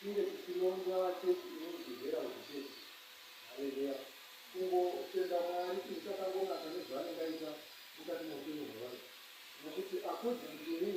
Tinge tichinonzwa vachechi imi muchigera uchichechi haleluya kungo tenda mwari chinhu chakangonaka nezvaanenge aita mukati meupenyu hwevanhu nokuti according to me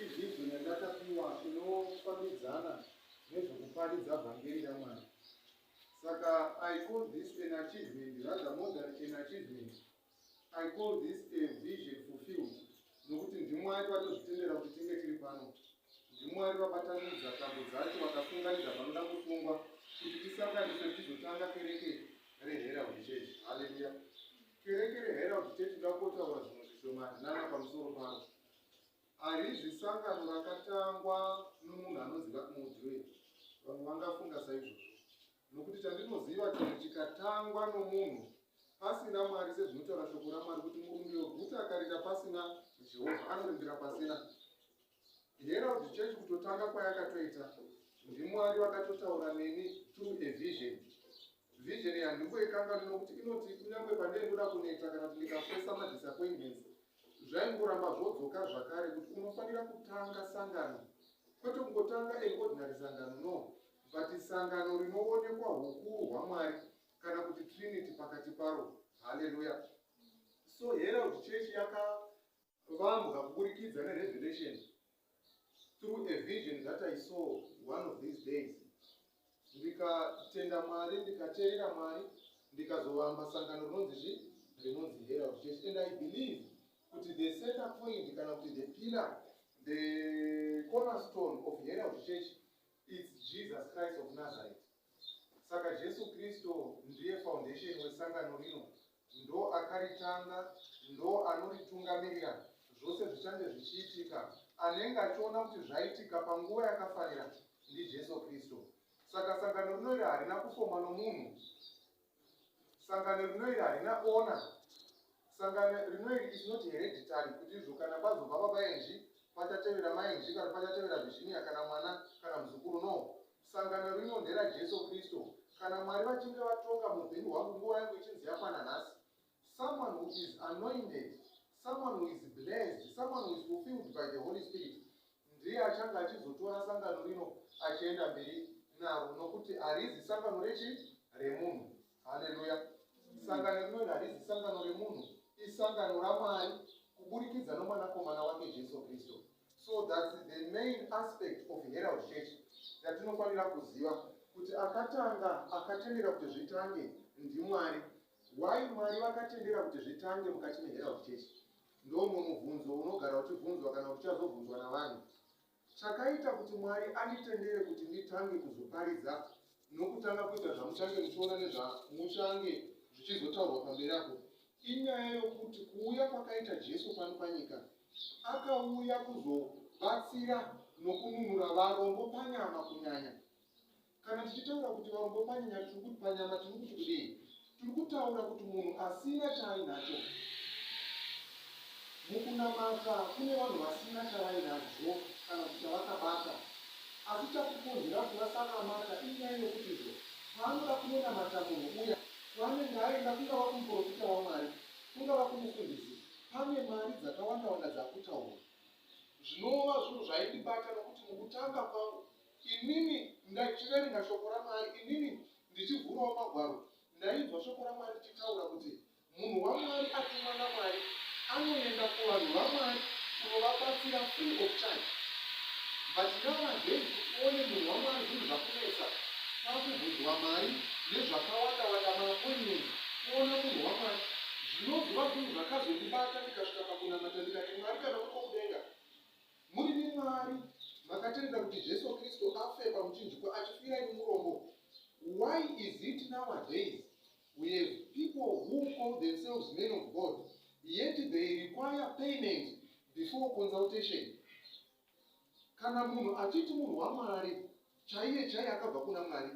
izvi izvo nyandakapiwa inofambidzana nezvekuparidza vhangeri ramwari saka i call this an achievement rather more than an achievement I call this a vision fulfilled nokuti ndimwari vatozvitendera kuti tinge tiri pano ndimwari vabatanidza tambo dzacho vakafunganidza vanoda kufungwa kuti tisanganiswe tichizotanga kereke reherald church haleluya kereke reherald church ndakotaura zvimwe zvishomani nana pamusoro paro harizi sangano rakatangwa nomunhu anoziva kumudziwe vamwe vangafunga saizvozvo Nokuti chandinoziva chero chikatangwa nomunhu pasina Mwari, sezvinotaura shoko raMwari kuti murume weguta akarinda pasina Jehovha anorindira pasina. Herald Church kutotanga kwayakatoita ndiMwari vakatotaura neni through a vision. Vision yanhumbu yekangani nokuti inoti kunyange pandaibuda kuneta kana kuti ndikafesa madisappointments zvaingoramba zvodzoka zvakare kuti unofanira kutanga sangano kwete kungotanga an ordinary sangano no But sangano rinoonekwa hukuru hwaMwari kana kuti Trinity pakati paro. Hallelujah. So Herald Church yakavambwa kuburikidza nerevelation through a vision that I saw one of these days. Ndikatenda Mwari, ndikateerera Mwari, ndikazovamba sangano rinonzi zvi rinonzi Herald Church and I believe kuti the center point kana kuti the pillar the cornerstone of Herald Church It's Jesus Christ of Nazareth. Saka Jesu Kristo ndiye foundation wesangano rino, ndo akaritanga, ndo anoritungamirira zvose zvichange zvichiitika. Anenge achiona kuti zvaitika panguva yakafanira ndiJesu Kristo. Saka sangano rino iri harina kufomwa nomunhu, sangano rino iri harina ona sangano rino iri is not hereditary kuti izvo kana kwazobva babaenji pachatevera mainji kana pachatevera virginia kana mwana kana muzukuru no sangano rino ndera jesu kristu kana mwari vachinge vatonga muupenyu hwangu nguva yangu ichinzi yakwana nhasi Someone who is anointed, someone who is blessed, someone who is fulfilled by the Holy Spirit ndiye achange achizotora sangano rino achienda mberi naro nokuti harizi sangano rechi remunhu haleluya sangano rinori harizi sangano remunhu isangano ramwari kuburikidza nomwanakomana wake jesu kristu so thats the main aspect of herald church yatinofanira kuziva kuti akatanga akatendera kuti zvitange ndimwari Why Mwari vakatendera kuti zvitange mukati meHerald Church? Ndomwe mubvunzo unogara uchibvunzwa kana kuti uchazobvunzwa navanhu. Chakaita kuti Mwari anditendere kuti nditange kuzoparidza nokutanga kuita zvamuchange muchiona nezvamuchange zvichizotaurwa pamberi apo inyaya yokuti kuuya kwakaita Jesu pano panyika akauya kuzobatsira nokununura varombo panyama kunyanya Kana tichitaura kuti varombo panyanya tiri kuti panyama tiri kuti kudii? Tiri kutaura kuti munhu asina chaainacho. Mukunamata kune vanhu vasina chavainazvo kana kuti chavakabata. Asi chakukonzera kuti vasanamata inyaya yokuti izvo paanoda kunonamata munhu uya kwaanenge aenda kungava kumuprofita waMwari, kungava kumufundisi, pane mari dzakawanda-wanda dzakutaurwa. Zvinova zvinhu zvaindibata nokuti mukutanga kwangu Inini ndachiverenga shoko raMwari, inini ndichivhurawo magwaro, ndainzwa shoko raMwari richitaura kuti munhu waMwari atumwa naMwari anoenda kuvanhu vaMwari kunovabatsira free of charge. But nowadays uone munhu waMwari zvinhu zvakunetsa, kwakubvunzwa mari nezvakawanda wanda, maappointment, kuona munhu waMwari. Zvinonzwa zvinhu zvakazondibata ndikasvika pakunamata ndikati, Mwari kana uripo kudenga, Muri nemwari makatendera kuti Jesu Kristu afe pamuchinjikwa achifira imi murombo. Why is it nowadays we have people who call themselves men of God yet they require payment before consultation? Kana munhu achiti munhu waMwari chaiye chaiye akabva kuna Mwari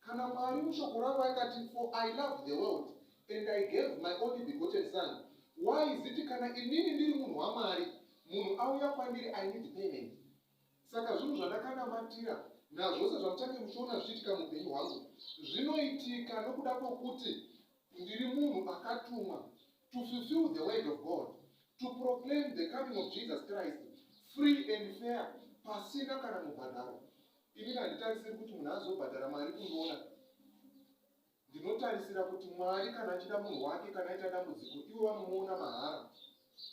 Kana Mwari mushoko ravo aikati for I loved the world and I gave my only begotten son why is it kana inini ndiri munhu waMwari munhu auya kwandiri I need payment saka zvinhu zvandakanamatira nazvose zvamuchange muchiona zvichiitika muupenyu hwangu zvinoitika nokuda kwokuti ndiri munhu akatumwa to fulfill the word of god to proclaim the coming of jesus christ free and fair pasina kana mubhadharo Ini handitarisiri kuti munhu azobhadhara mari kundiona. Ndinotarisira kuti Mwari kana achida munhu wake kana aita dambudziko ivo vanomuona mahara.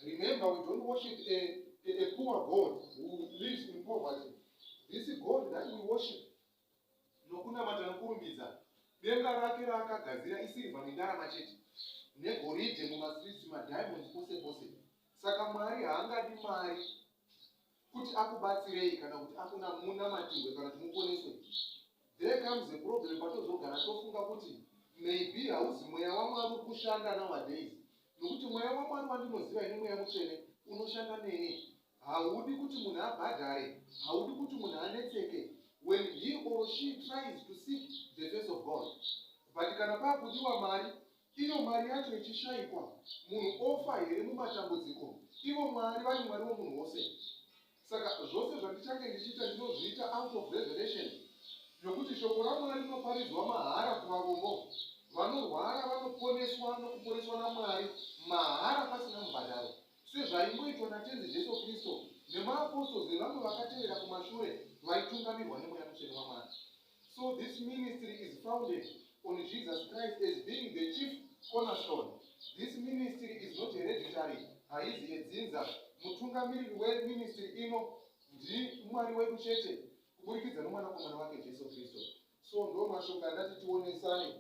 Remember we don't worship a, a, a poor God who lives in poverty. This God that we worship nokunamata nokurumbidza denga rake raakagadzira isirva nendarama chete negoridhe mumastreets madiamonds pose pose saka mwari haangadi mari kuti akubatsirei kana kuti akuna munamatirwe kana kuti muponeswe there comes a problem patozogara tofunga kuti maybe hauzi mweya wamwari uri kushanda nowadays nokuti mweya wamwari wandinoziva ine mweya mutsvene unoshanda neni haudi kuti munhu abhadhare haudi kuti munhu anetseke when he or she tries to seek the face of god but kana pakudiwa mari Iyo mari yacho ichishaikwa, munhu ofa here mumatambudziko? Ivo Mwari vari Mwari womunhu wose. Saka zvose zvandichange ndichiita ndinozviita out of revelation yokuti shoko raMwari rinoparidzwa mahara kuvarombo. Vanorwara vanoponeswa nokuponeswa naMwari mahara pasina mubhadharo, sezvaingoitwa naTenzi Jesu Kristu nemaapostozi nevamwe vakatevera kumashure vaitungamirwa nemweya mutsvene waMwari. So this ministry is founded on Jesus Christ as being the chief cornerstone. This ministry is not hereditary, haizi yedzinza. Mutungamiriri weministry ino ndiMwari wedu chete kuburikidza nomwanakomana wake Jesu Kristu. So ndo mashoko andati tionesane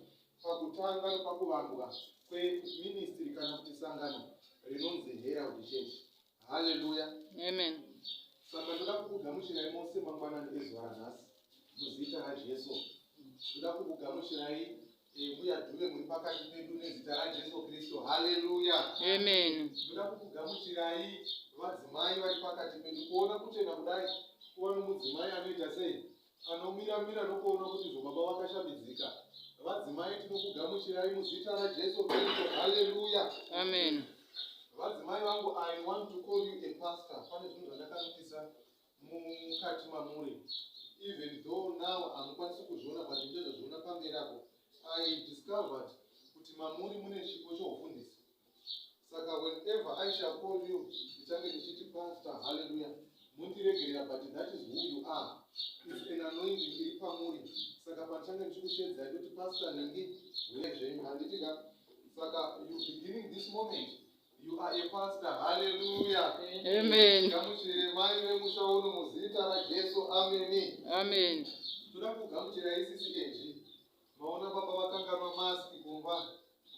pakutanga nepakuvambwa kweministry kana kuti sangano rinonzi Herald Church. Haleluya. Amen. Saka ndoda kukugamuchirai mose mangwanani ezuva ranhasi. muzita rajesu toda kukugamuchirai mbuya eh, dhuve muri pakati pedu nezita rajesu kristu haleluya amen toda kukugamuchirai vadzimai vari pakati pedu kuona kuchena kudai kuva nomudzimai anoita sei anomira mira nokuona kuti zvobaba vakashambidzika vadzimai tinokugamuchirai muzita rajesu kristu haleluya amen vadzimai vangu i want to call you a pastor pane zvinhu zvandakanotisa mukati mamuri even though now hamukwanisi kuzviona but ndezvazviona pamberi apo i discovered kuti mamuri mune chipo choufundisi saka whenever i shall call you ndichange ndichiti pastor halleluya mundiregerera but that is who you are is an anointing iri pamuri saka pandichange ndichikushedzai kuti pastor nhingi huyezvenyu handiti ka saka you beginning this moment You are a pastor. Hallelujah. Amen. Ngamuchire mai vemusha uno muzita raJesu. Amen. Amen. Toda kugamuchira isisi Angie. Maona baba vakanganwa mask kumba.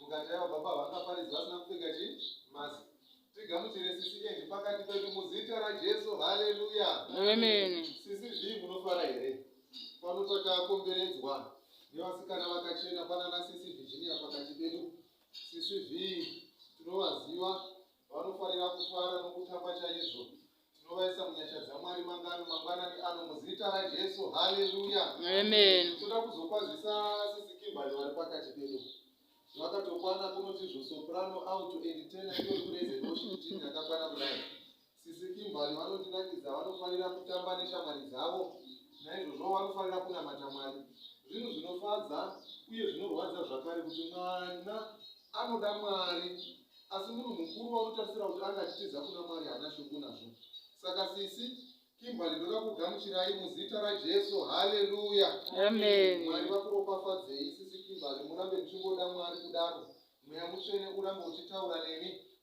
Mukati yavo baba vakaparidza vasina kupfeka chi mask. Tigamuchire sisi Angie pakati pedu muzita raJesu. Hallelujah. Amen. Sisi zvii munofara here? Pano takakomberedzwa nevasikana vakachena pana nasisi Virginia pakati pedu. Sisi Vee tinovaziva vanofarira kufara nokutamba chaizvo. Tinovaisa munyasha dzaMwari mangano mangwanani ano muzita raJesu. Haleluya. Amen. Toda kuzokwazisa sisi Kimberly vari pakati pedu. Vakatokwana kunoti zvosoprano auto and tenor iyo kureze noshi kuti yakakwana kudai. Sisi Kimberly vanondinakidza vanofanira kutamba neshamwari dzavo naizvozvo vanofanira kunamata Mwari. Zvinhu zvinofadza uye zvinorwadza zvakare kuti mwana anoda Mwari asi munhu mukuru vanotarisira kuti anga achitiza kuna Mwari haana shoko nazvo. Saka sisi Kimberly ndoda kugamuchirai muzita raJesu. Haleluya. Amen. Mwari vakuropafadzei sisi Kimberly murambe muchingoda Mwari kudaro. Mweya mutsvene urambe uchitaura nemi.